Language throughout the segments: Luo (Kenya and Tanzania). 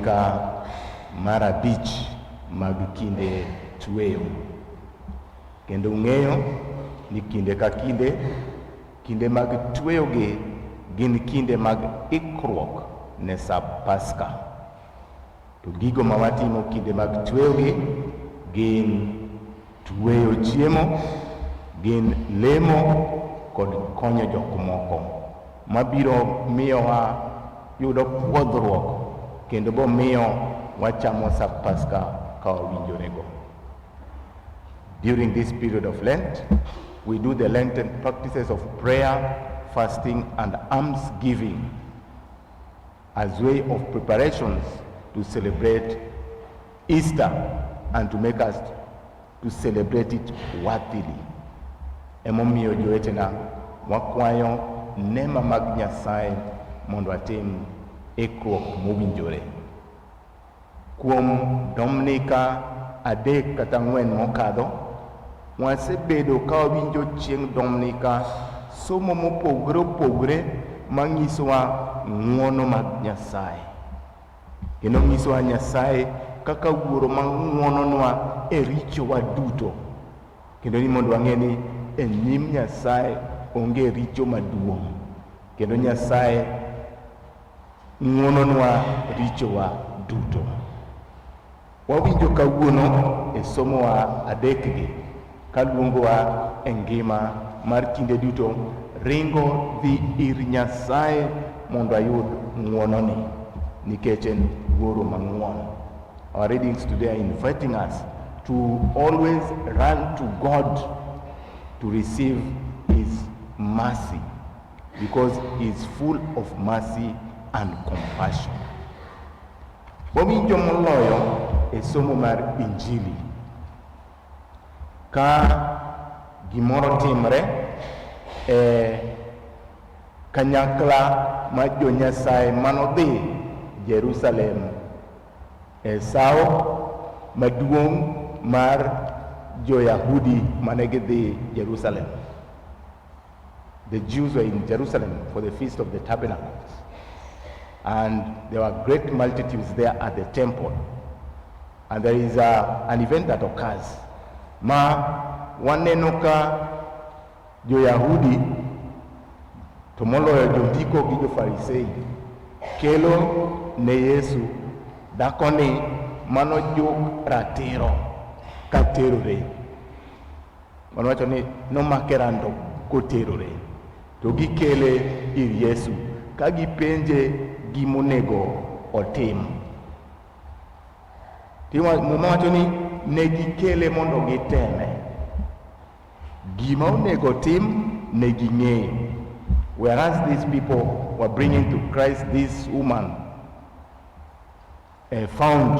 Ka mar abich mag kinde tweyo. Kendo ung'eyo ni kinde ka kinde, kinde mag tweyogi gin kinde mag ikruok ne sap Paska. To gigo ma watimo kinde mag tweyogi gin Tueyo chiemo gin lemo kod konyo jok moko mabiro miyowa yudo puodhruok kendo bomiyo wachamo sa Paska ka wawinjorego. During this period of Lent, we do the Lenten practices of prayer, fasting, and alms giving as way of preparations to celebrate Easter and to make us to celebrate it worthily. Emomiyo jowetena wakwayo nema mag Nyasaye mondo atim ikruok mowinjore. Kuom Dominika adek kata ang'wen mokadho, wasebedo ka wawinjo chieng' Dominika somo mopogore opogore manyisowa ng'wono mag Nyasaye. Kendo nyisowa Nyasaye kaka wuoro ma ng'wononwa e richowa duto, kendo ni mondo wang'e ni e nyim Nyasaye onge richo maduong', kendo Nyasaye ng'wononwa richowa duto. Wawinjo kawuono e somowa adekgi kaluongowa e ngima mar kinde duto ringo dhi ir Nyasaye mondo ayud ng'wononi nikech en wuoro mang'won. Our readings today are inviting us to always run to God to receive his mercy because he is full of mercy and compassion. Wawinjo moloyo e somo mar Injili ka gimoro timre e kanyakla ma jo Nyasaye manodhi Jerusalem e sawo maduong' mar jo-Yahudi mane gidhi Jerusalem. The Jews were in Jerusalem for the Feast of the Tabernacles, and there were great multitudes there at the temple. And there is a, an event that occurs. Ma waneno ka jo-Yahudi to moloyo jondiko gi jo-Farisei kelo ne Yesu dakoni mano juk ratiro ka terore. Mano wacho ni nomake rando koterore to gikele ir Yesu ka gipenje gimonego otim. Muma wacho ni ne gikele mondo giteme. Gima onego otim ne ging'eyo. Whereas these people were bringing to Christ this woman uh, found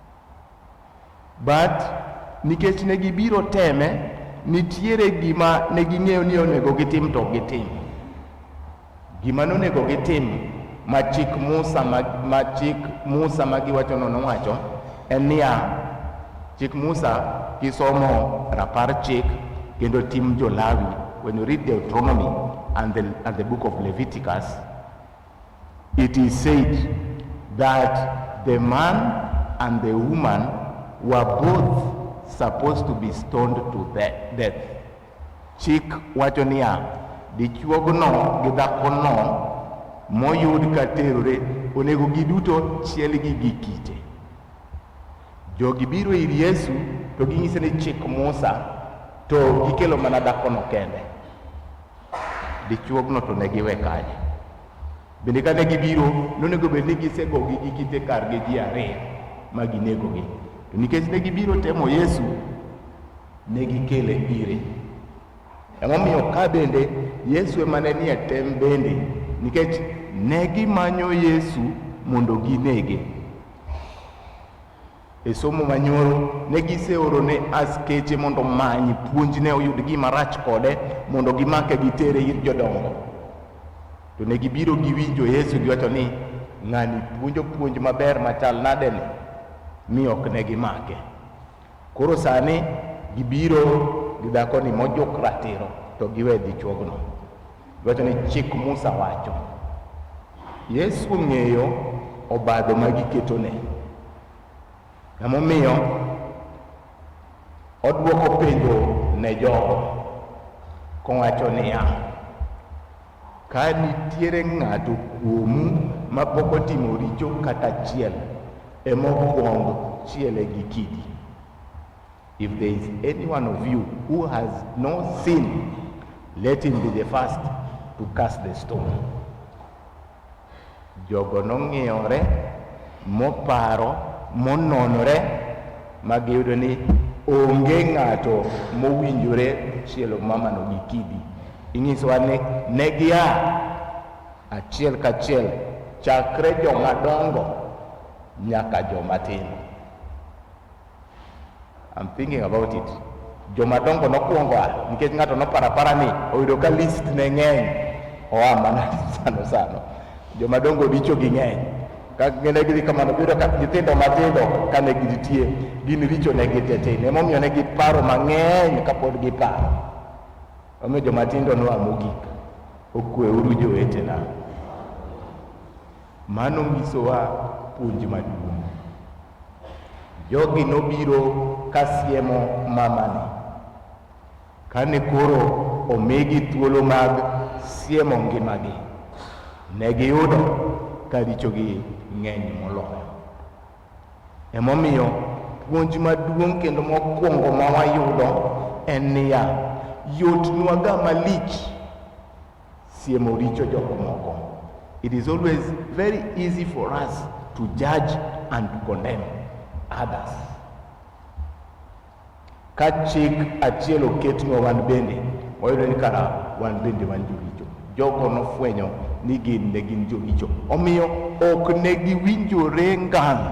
But nikech ne gibiro teme, nitiere gima ne ging'eyo ni onego gitim to ok gitim. Gima nonego gitim ma chik Musa ma, ma chik Musa ma giwachono nowacho en niya, chik Musa kisomo rapar chik kendo tim jo-Lawi, when you read Deuteronomy and the, and the book of Leviticus, It is said that the man and the woman were both supposed to be stoned to death. Chik wacho niya, dichuogno gi dhakono moyud ka terore onego giduto chielgi gi kite. Jogi biro ir Yesu to ginyise ni chik Musa to gikelo mana dhakono kende. Dichuogno to ne giwe kanye? Bende kane gibiro, nonego bed ni gisegogi gi kite kargi ji ariyo ma ginegogi. To nikech ne gibiro temo Yesu, ne gikele ire. Emomiyo ka bende Yesu ema ne nie tem bende, nikech ne gimanyo Yesu mondo ginege. E somo manyoro ne giseoro ne askeche mondo omany puonjne oyud gima rach kode mondo gimake gitere ir jodongo. To ne gibiro giwinjo Yesu giwacho ni ng'ani puonjo puonj maber machal nade ni mi ok ne gimake. Koro sani gibiro gi dhakoni mojuk ratiro to giwe dichuogno. Iwacho ni chik Musa wacho. Yesu ong'eyo obadho ma giketone. Emomiyo odwoko penjo ne jogo kowacho niya, ka nitiere ng'ato kuomu ma pok otimo richo kata achiel, emokwong chiele gi kidi. If there is any one of you who has no sin, let him be the first to cast the stone. Jogo nong'iyore, moparo, mononore, ma giyudo ni onge ng'ato mowinjore chielo mamano gi kidi. Inyisowa ni ne gia achiel kachiel chakre joma dongo nyaka joma tindo. I'm thinking about it. Joma dongo nokwongo a nikech ng'ato nopara para ni oyudo ka list ne ng'eny oa mana sano sano. Joma dongo richo gi ng'eny. Ka ngene gidhi kamano biro ka nyithindo matindo kane gitie gin richo ne gitetene emomiyo ne giparo mang'eny kapod giparo. Omiyo joma tindo noa mogik. Okweuru jowetena. Mano nyisowa puonj maduong'. Jogi nobiro ka siemo mamani. Kane koro omigi thuolo mag siemo ngimagi, ne giyudo ka richogi ng'eny moloyo. Emomiyo puonj maduong' kendo mokwongo ma wayudo en niya, yotnwaga malich Siemo richo jok moko. It is always very easy for us to judge and to condemn others. Ka chik achiel oketnwa wan bende, wayudo ni kara wan bende wan joricho. Jogo nofwenyo ni gin ne gin joricho, omiyo ok ne giwinjore ngang'.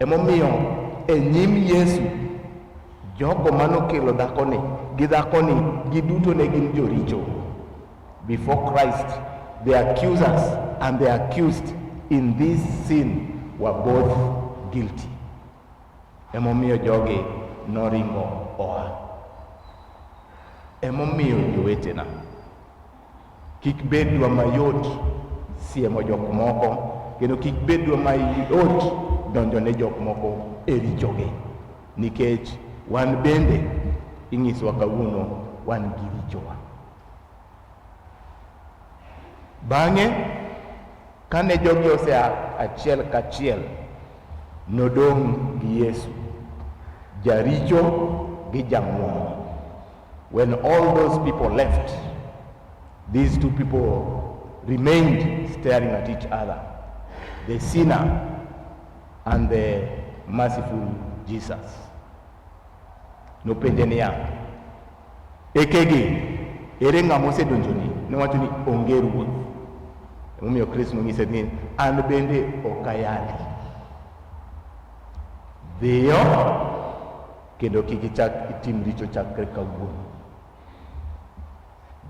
Emomiyo e nyim Yesu jogo manokelo dhakoni gi dhakoni giduto ne gin joricho. Before Christ, the accusers and the accused in this sin were both guilty. Emomiyo jogi noringo oa. Emomiyo jowetena Kik bedwa mayot siemo jok moko kendo kik bedwa mayot donjo ne jok moko e richogi nikech wan bende ing'isowa kawuono wan gi richowa. Bang'e kane jogi osea achiel kachiel nodong' gi Yesu jaricho gi jamwon. When all those people left, these two people remained staring at each other, the sinner and the merciful Jesus. Nopenje niya, ekege ere ng'ama osedonjoni? Nowacho ni onge ruoth. Emomiyo Kristo nonyise ni an bende ok ayali. Dhiyo Kendo kik ichak itim richo chakre kawuono.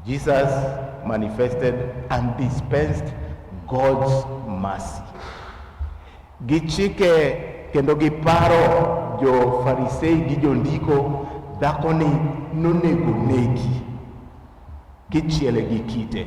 Jesus manifested and dispensed God's mercy. Gichike kendo giparo jo Farisei gi jondiko dhako ni nonego negi kichiele gi kite.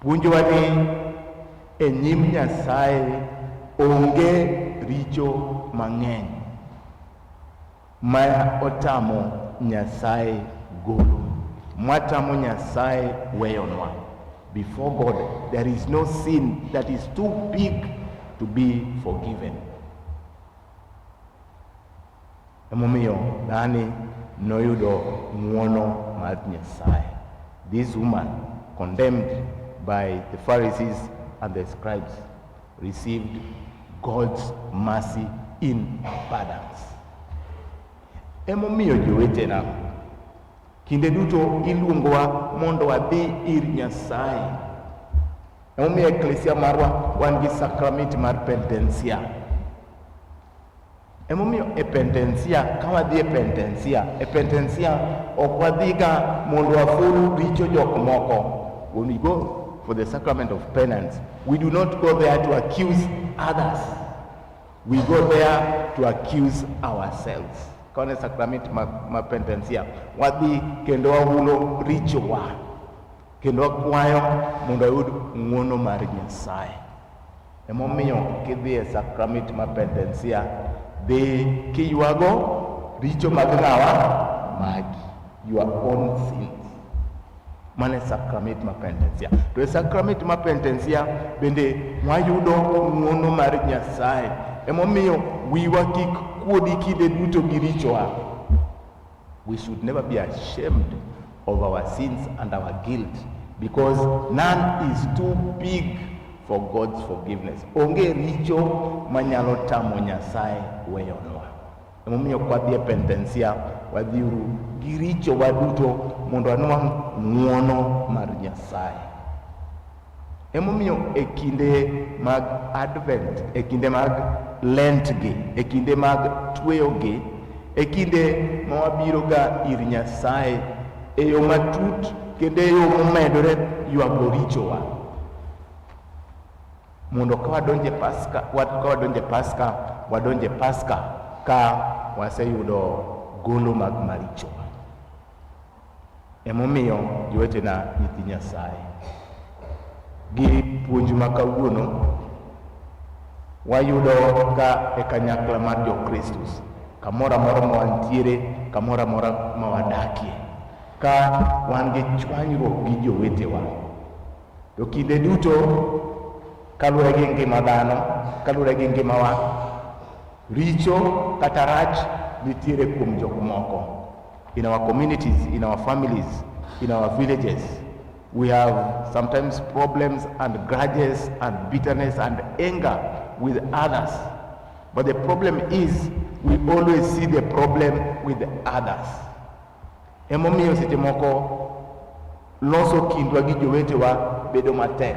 Puonjowa ni e nyim Nyasaye onge richo mang'eny ma otamo Nyasaye golo, matamo Nyasaye weyonwa. Before God, there is no sin that is too big to be forgiven. Emomiyo dhani noyudo ng'uono mar Nyasaye. This woman condemned by the Pharisees and the scribes received God's mercy in abundance. Emomiyo jowetena, kinde duto iluongowa mondo wadhi ir Nyasaye. Emomiyo eklesia marwa wan gi sakramenti mar pentensia Emomiyo e pentensia, ka wadhi e pentensia, e pentensia ok wadhiga mondo waful richo jok moko. When we go for the sacrament of penance, we do not go there to accuse others. We go there to accuse ourselves. Kaone sacrament ma, ma pentensia, wadhi kendo wahulo richowa kendo wakwayo mondo wayud ng'wono mar Nyasaye. Emomiyo kidhi e sakramit ma pendensia, dhi kiywago richo mag ng'awa magi, your own sins. Mano e sakramit ma pendensia. To e sakramit ma pendensia bende wayudo ng'wono mar Nyasaye. Emomiyo wiwa kik kuodi kinde duto gi richowa. We should never be ashamed of our sins and our guilt because none is too big for God's forgiveness. Onge richo manyalo tamo Nyasaye weyonwa. Emomiyo kwadhi e pentensia wadhiuru gi richo waduto mondo anwang' ng'uono mar Nyasaye. Emomiyo e kinde mag Advent, e kinde mag Lentgi, e kinde mag tweyogi, e kinde ma wabiroga ir Nyasaye e yo matut kendo e yo momedore ywago richowa. Mondo ka wadonje Paska, ka wadonje Paska, wadonje Paska ka waseyudo golo mag marichowa. Emomiyo jowetena nyithi Nyasaye, gi puonj ma kawuono wayudo ka e kanyakla mar Jokristus, kamoro amora ma wantiere, kamoro amora ma wadakie, ka wan gi chwanyruok gi jowetewa. To kinde duto kaluwore gi ngima dhano, kaluwore gi ngimawa, Richo kata rach nitiere kuom jok moko. In our communities, in our families, in our villages, we have sometimes problems and grudges and bitterness and anger with others. But the problem is we always see the problem with others. Emomiyo seche moko loso kindwa gi jowetewa bedo matek.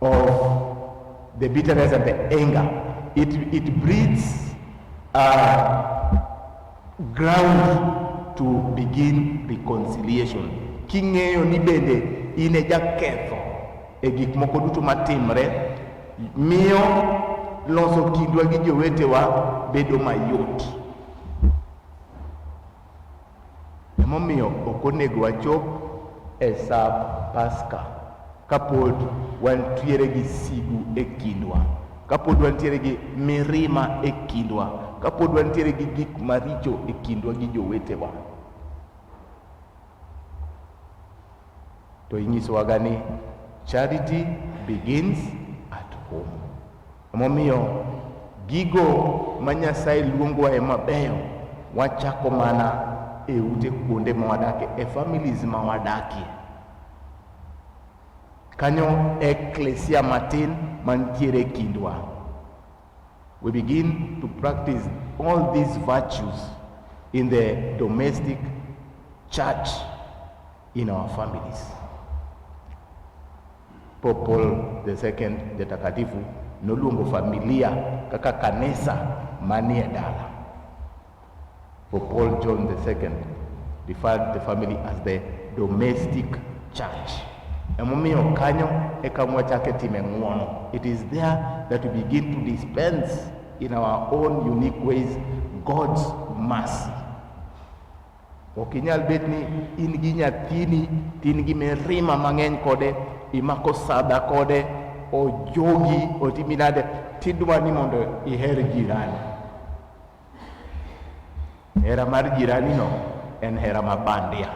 of the bitterness and the anger. It, it breeds uh, ground to begin reconciliation. King'eyo ni bende in e jaketho e gik moko duto matimre, miyo loso kindwa gi jowetewa bedo mayot. Emomiyo ok onego wachop e sap Paska kapod wantiere gi sigu e kindwa, kapod wantiere gi mirima e kindwa, kapod wantiere gi gik maricho e kindwa gi jowetewa. To inyisowaga ni charity begins at home. Emomiyo gigo ma Nyasaye luongowa e mabeyo wachako mana e ute kuonde ma wadakie, e families ma wadakie. Kanyo eklesia matin mantiere e kindwa. We begin to practice all these virtues in the domestic church in our families. Pope Paul II Jatakatifu noluongo familia kaka kanisa manie dala. Pope Paul John II referred the family as the domestic church. Emomiyo kanyo e kama wachake time ng'uono. It is there that we begin to dispense in our own unique ways God's mercy. Ok inyal bet ni in gi nyathini to in gi mirima mang'eny kode, imako sadha kode, ojogi, otimi nade, tidwa ni mondo iher jirani. Hera mar jiranino en hera ma bandia,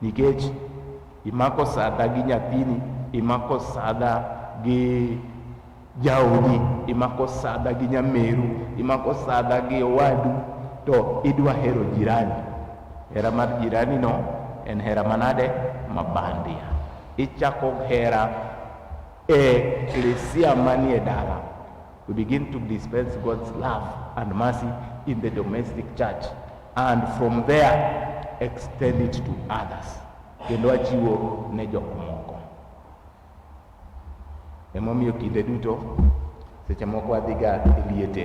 nikech imako sadha gi nyathini, imako sadha gi Jaodi imako sadha gi nyameru, imako sadha gi owadu, to idwa hero jirani. Hera mar jirani no en hera manade? Mabandia. Ichako hera e klesia manie dala. We begin to dispense God's love and mercy in the domestic church and from there extend it to others. Kendo achiwo ne jok moko. Emomiyo kinde duto seche moko wadhiga e liete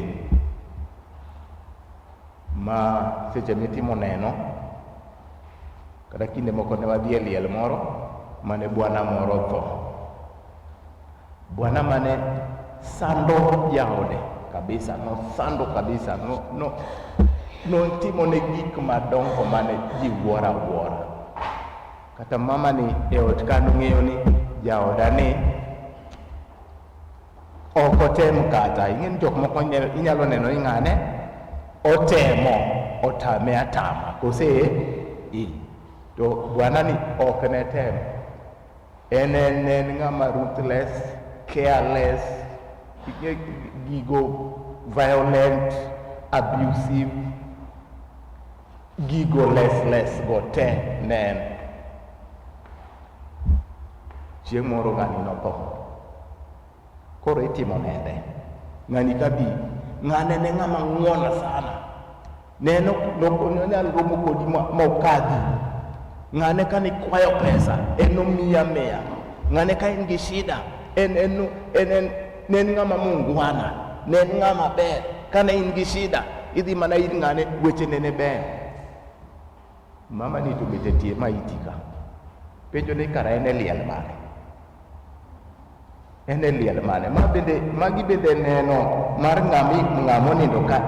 ma seche mitimo neno kata kinde moko ne wadhi e liel moro mane bwana moro tho. Bwana mane sando jaode kabisa, nosando kabisa, no, no, notimo ne gik madongo mane ji wuoro awuora. kata mamani e ot ka nong'eyo ni jaoda ni ok otem kata ing'e ni jok moko inyalo neno ni ng'ane otemo otame atama kose i to bwana ni ok ne tem en en en ng'ama ruthless careless gigo violent abusive Gigo les les go te ne en. Chieng' moro ng'ani notho. Koro itimo nende. Ng'ani kabi ng'ane ne ng'ama ng'wona sana. Ne no nonyal romo kodi ma ma okadhi. Ng'ane ka nikwayo pesa en nomiya miya. Ng'ane ka in gi shida en en en en ne en ng'ama mungwana ne en ng'ama ber kane in gi shida idhi mana ir ng'ane wechene ne ber mama ni to bete tie ma iti ka penjo ni kara en e liel mane en e liel mane ma bende magi bende neno mar ng'ami ng'amo nindo ka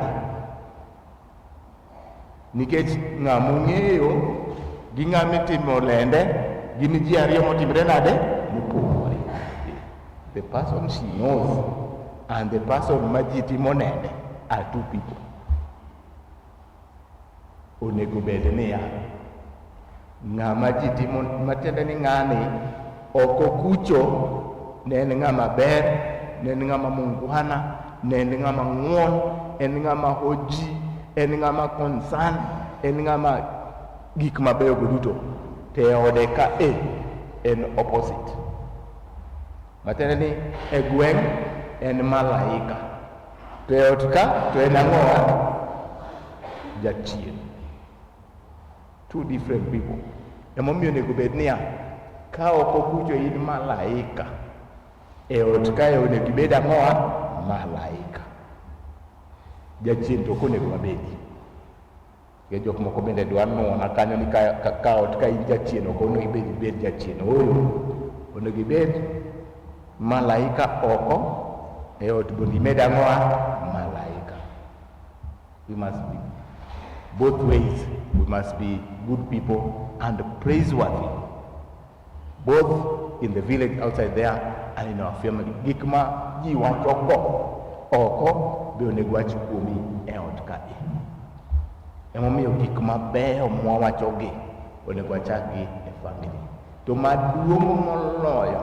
nikech ng'a mong'eyo gi ng'a mitimo lende gin ji ariyo motimre nade mopogore the person she knows and the person ma ji timo nende are two people onego bed niya Ng'ama ji timo matiende ni ng'ani ok okucho, ne en ng'ama ber, ne en ng'ama mungwana, ne en ng'ama ng'won, en ng'ama hoji, en ng'ama concern, en ng'ama gik mabeyo go duto to e ode ka e en opposite. Matiende ni e gweng' en malaika to e ot ka to en ang'owa jachien. two different people emomiyo onego bed niya ka ok okucho in malaika e ot kae onego ibed ang'owa malaika jachien to ok onego wabedi ke jok moko bende dwa nuna kanyo ni ka, ka, ka ot ka in jachien ok onego ibed ibed jachien ooyo onego ibed malaika oko e ot mondo imed ang'owa We must be both ways. We must be good people and praiseworthy, both in the village outside there and in our family. Gik ma ji wacho go oko be onego wach kuomi e ot kae. Emomiyo gik mabeyo mwawachogi onego wachakgi e family. To maduong' moloyo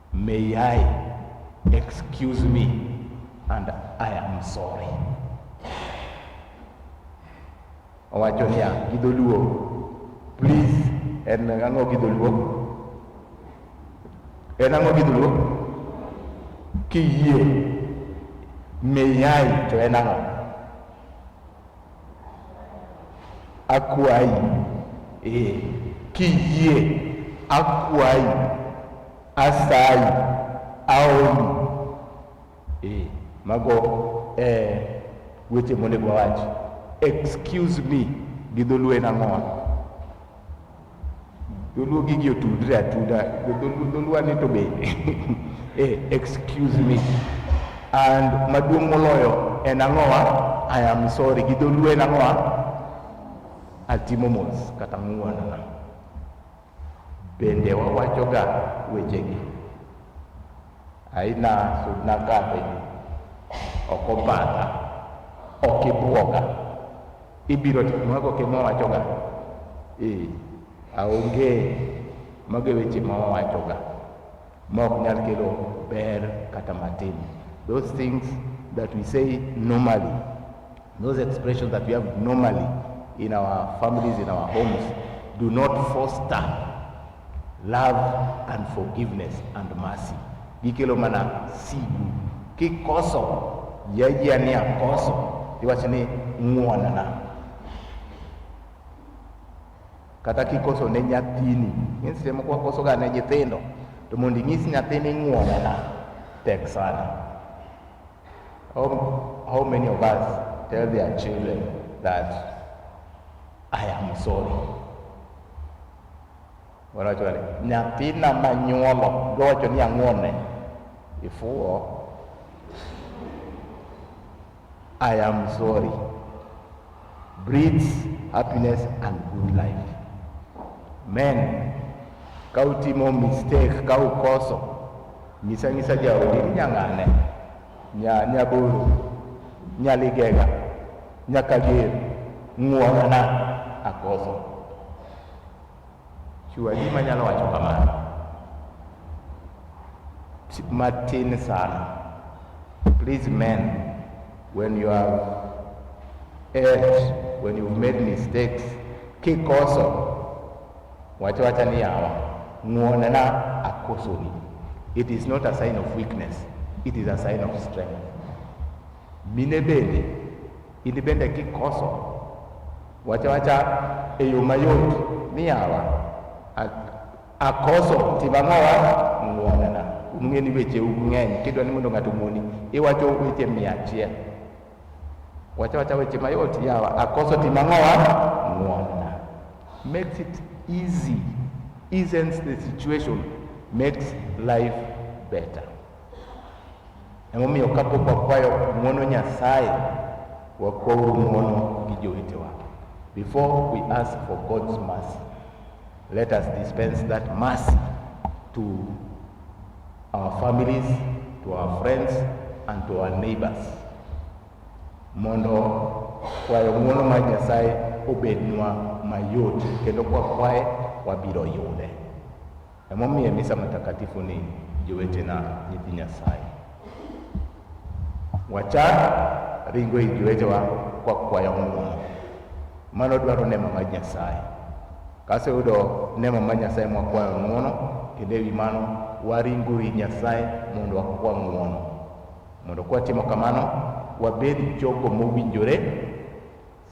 May I excuse me and I am sorry. Owacho niya gi dholuo, please en ang'o gi dholuo? En ang'o gi dholuo? Kiyie may I to en ang'o? Akwayi, ee, kiyie, akwayi, asayi, aomi. Ee, mago e weche monego wawach. Excuse me gi dholuo en ang'owa? Dholuo gigi otudre atuda. Dholuo ni to be. Eh, excuse me. And maduong' moloyo en ang'owa, I am sorry. Gi dholuo en ang'owa, atimo mos kata ng'uonana. Bende wawachoga wechegi. Aina sudna kadhe, ok obadha, ok ibwoga. Ibiro timo kaka okimo wachoga. Ee, aonge mago e weche ma wawachoga ma ok nyal kelo ber kata matin. Those things that we say normally, those expressions that we have normally in our families, in our homes, do not foster Love and forgiveness and mercy gikelo mana sigu. Kikoso yajia ni akoso, iwacho ni ng'wonna. Kata kikoso ne nyathini, ng'e seche moko wakoso ga ne nyithindo, to mondo inyis nyathini ng'wonna tek sana. How, how many of us tell their children that I am sorry? Wanawacho ni nyathina manyuolo, giwacho ni ang'one, ifuwo, I am sorry, breeds happiness and good life. Men, ka utimo mistake, ka ukoso, nyisa nyisa jaodi ni nyang'ane. Nya Nyaburu, Nyaligega, Nyakager, Ng'uorana, Akoso. Chua ji manyalo wacho kamano matin sana. Please men, when you have erred, when you've made mistakes, kikoso Wacho wacha ni yawa, ng'wonena akosoni. It is not a sign of weakness, it is a sign of strength. Mine bende, in bende kikoso, wacha wacha e yo mayot ni yawa, akoso timo ang'owa ng'wonena. Ung'e ni weche ung'eny, kidwa ni mondo ng'ato ong'woni, iwacho weche mia achiel. Wacha wacha weche mayot yawa, akoso timo ang'owa ng'wonna. Makes it easy, eases the situation, makes life better. Emomiyo kapok wakwayo ng'wono Nyasaye, wakwauru ng'wono gi jowetewa. Before we ask for God's mercy, let us dispense that mercy to our families, to our friends, and to our neighbors. Mondo kwayo ng'uono mar Nyasaye obednwa mayot kendo kwa kwaye wabiro yude. Emomiye misa matakatifu ni jowetena nyithi Nyasaye. Wachak ringo ir jowetewa kwa kwayo ng'uono. Mano dwaro nema mar Nyasaye. Ka aseyudo nema mar Nyasaye ma wakwayo ng'uono, kendo ewi mano waringo ir Nyasaye mondo wakwa ng'uono. Mondo kwa timo kamano, wabed jogo mowinjore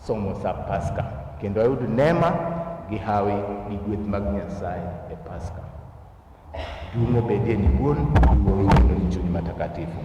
somo sa Paska, kendo ayud nema gi hawi gi gweth mag Nyasaye e Paska. Duong' obedie ni Wuon, ni Wuowi, kendo ni Chuny Matakatifu.